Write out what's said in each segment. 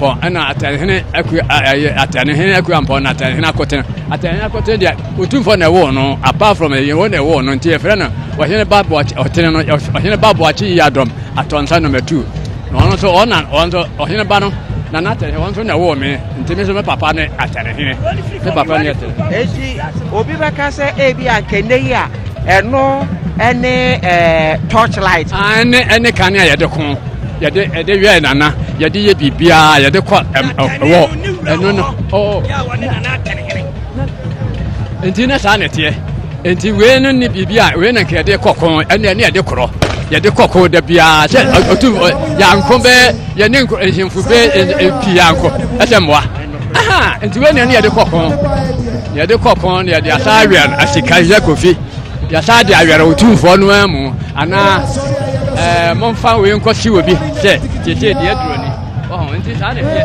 Pɔn na Atɛnhene Akua a ɛyɛ Atɛnhene Akua Mpɔn na Atɛnhene Akotene. Atɛnhene Akotene deɛ Otumfoɔ na ɛwɔ no apart from ɛyɛ wɔn na ɛwɔ no nti yɛfrɛ no Ɔhene Ba Ɔtene no Ɔhene Ba Boakye Yi Adɔm Atɔnsa number 2. Na ɔno nso ɔna ɔno nso Ɔhene Ba no na n'atɛnhene wɔn nso na ɛwɔ me nti me nso me papa ne atɛnhene. Me papa ne atɛnhene. Eti obi bɛka sɛ ebi ankɛnɛ yi a ɛno ɛne ɛɛ torch light. ɛne ɛne kanea yɛde ko yɛde yɛde wɛ nana yɛde yɛ biribiara yɛde kɔ ɛwɔ ɛno no ɔɔ nti ne saa na ɛteɛ nti wei no ne biribi a wei na nka yɛde kɔ ko ɛne ɛne yɛde korɔ yɛde kɔ ko da biara sɛ ɔtu yanko bɛ yɛne nhemfo bɛ pii yanko ɛsɛ mmoa. nti wei nea ne yɛde kɔ pɔn yɛde kɔ pɔn na yɛde asa awɛn asikanyɛ kofi yɛsa de awɛn otumfoɔ no amu anaa ɛɛ momfa wei nkɔ si wɔ bi sɛ tietie deɛ duro ni ɔhɔn nti saa na ɛyɛ.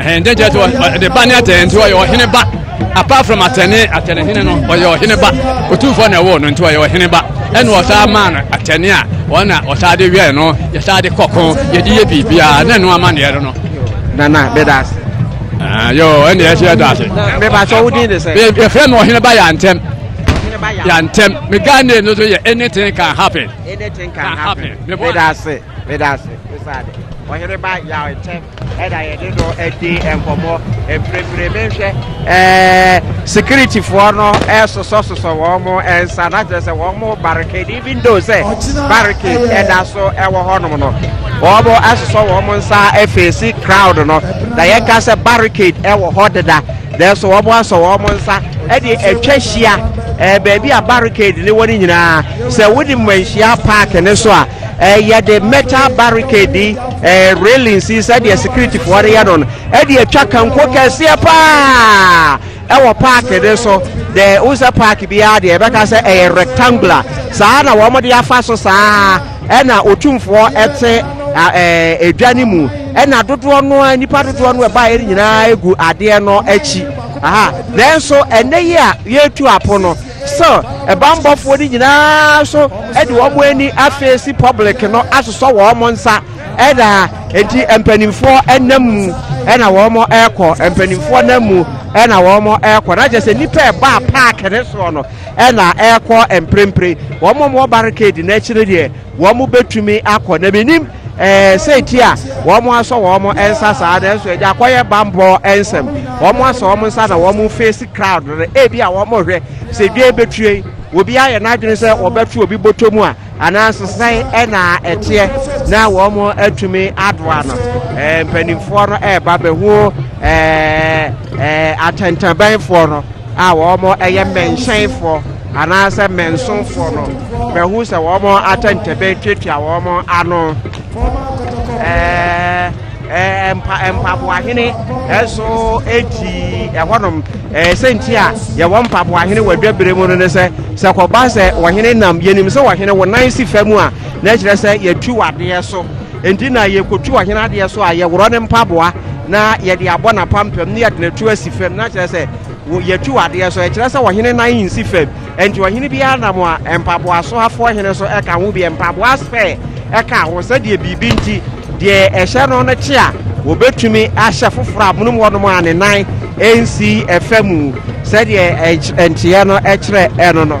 ɛhɛn dɛ gyɛ ɔde ba ne atɛn nti ɔyɛ ɔhene ba apart from atɛne atɛne hene no ɔyɛ ɔhene ba otumfoɔ na ɛwɔ no nti ɔyɛ ɔhene ba ɛna ɔsaa maa no atɛne a wɔn na ɔsaa de wɛn no yɛsaa de kɔko yɛde yɛ biribiara na ɛno ama neɛ no no nana bɛda ase ah, yo ɛne ɛsɛ ɛda ase bɛba sɛ wodin de sɛ yɛfrɛ me ɔhene ba yɛ antɛm yɛ antɛm me ghana no so yɛ anything can happen anything can happen bɛda ase Meda ase esiane Ɔheneba Yaw Nkyɛn ɛna yɛde no adi nkɔmmɔ mprempren. Menhwɛ ɛɛ sikiritifoɔ no ɛsosɔsosɔ wɔn nsa na kyerɛ sɛ wɔn barricade even though sɛ barricade ɛda so ɛwɔ hɔnom no wɔn asosɔ wɔn nsa afeesi crowd no na yɛka sɛ barricade ɛwɔ hɔ deda nanso wɔn asɔ wɔn nsa ɛde atwa hyia ɛɛ baabi a barricade ne wɔ ne nyinaa sɛ wode mmanhyia paaki ne so a yɛde metal barricade yi railings yi sɛdeɛ securityfoɔ no yɛ no no ɛde atwa kanko kɛseɛ paa ɛwɔ park no so deɛ wo sɛ park biara deɛ ɛbɛka sɛ ɛyɛ rectangular saa na wɔde afa so saa ɛna otumfoɔ ɛte edwa no mu ɛna dodoɔ no a nipa dodoɔ no ɛbaeɛ no nyinaa egu adeɛ no akyi aha nanso ɛnɛ yi a yɛretu apo no So bammɔfoɔ no nyinaa nso de wɔn ani afeesi public no asosɔ wɔn nsa na enti mpanimfoɔ nam mu na wɔrekɔ, mpanimfoɔ nam mu na wɔrekɔ, na kyerɛ sɛ nnipa a ɛbaa park no soɔ no na ɛrekɔ mprempren, wɔn a wɔwɔ barricade no akyi no deɛ wɔbɛtumi akɔ na menim Ɛɛ, sɛ enti a wɔasɔ wɔn nsa saa, nanso agya akɔyɛ bammɔ nsɛm. Wɔasɔ wɔn nsa na wɔrefeesi crowd no. Ebia wɔrehwɛ sɛ dwa yi betue. Obi ayɛ n'adwene sɛ wɔbɛto obi bɔtɔ mu a, anaasɛ sɛn na ɛteɛ na wɔatumi adoa no. Ɛɛ, mpanimfoɔ no reba bɛhu ɛɛ, ɛɛ, atɛntɛbɛnfoɔ no. a wɔyɛ mmɛnhyɛnfoɔ anaasɛ mmɛnsonfoɔ no bɛhu sɛ wɔn atɛntɛbɛn tuatua wɔn ano. Ɛɛ mpa mpaboahene ɛso eti ɛhɔnom ɛɛ sɛnti a yɛwɔ mpaboahene wɔ adwabere mu no ne sɛ sɛ kɔba sɛ wɔhene nam yɛnim sɛ wɔhene wɔnan si fam a na kyerɛ sɛ yɛtu wadeɛ so. Enti na yɛkɔtu ɔhene adeɛ so a, yɛworɔ ne mpaboa na yɛde abɔ n'apampam na yɛde no atu asi fam, na kyerɛ sɛ yɛtu adeɛ so. Ɛkyerɛ sɛ ɔhene nan nsi fam. Enti ɔhene biara nam a, mpaboa soafoɔ hene so ka ho bi, mpaboa spare ka ho, sɛdeɛ biribi nti, deɛ ɛhyɛ no no kye a, wɔbɛtumi ahyɛ foforɔ a monom hɔnom a ne nan nsi fa mu, sɛdeɛ nkyeɛ no kyerɛ no no.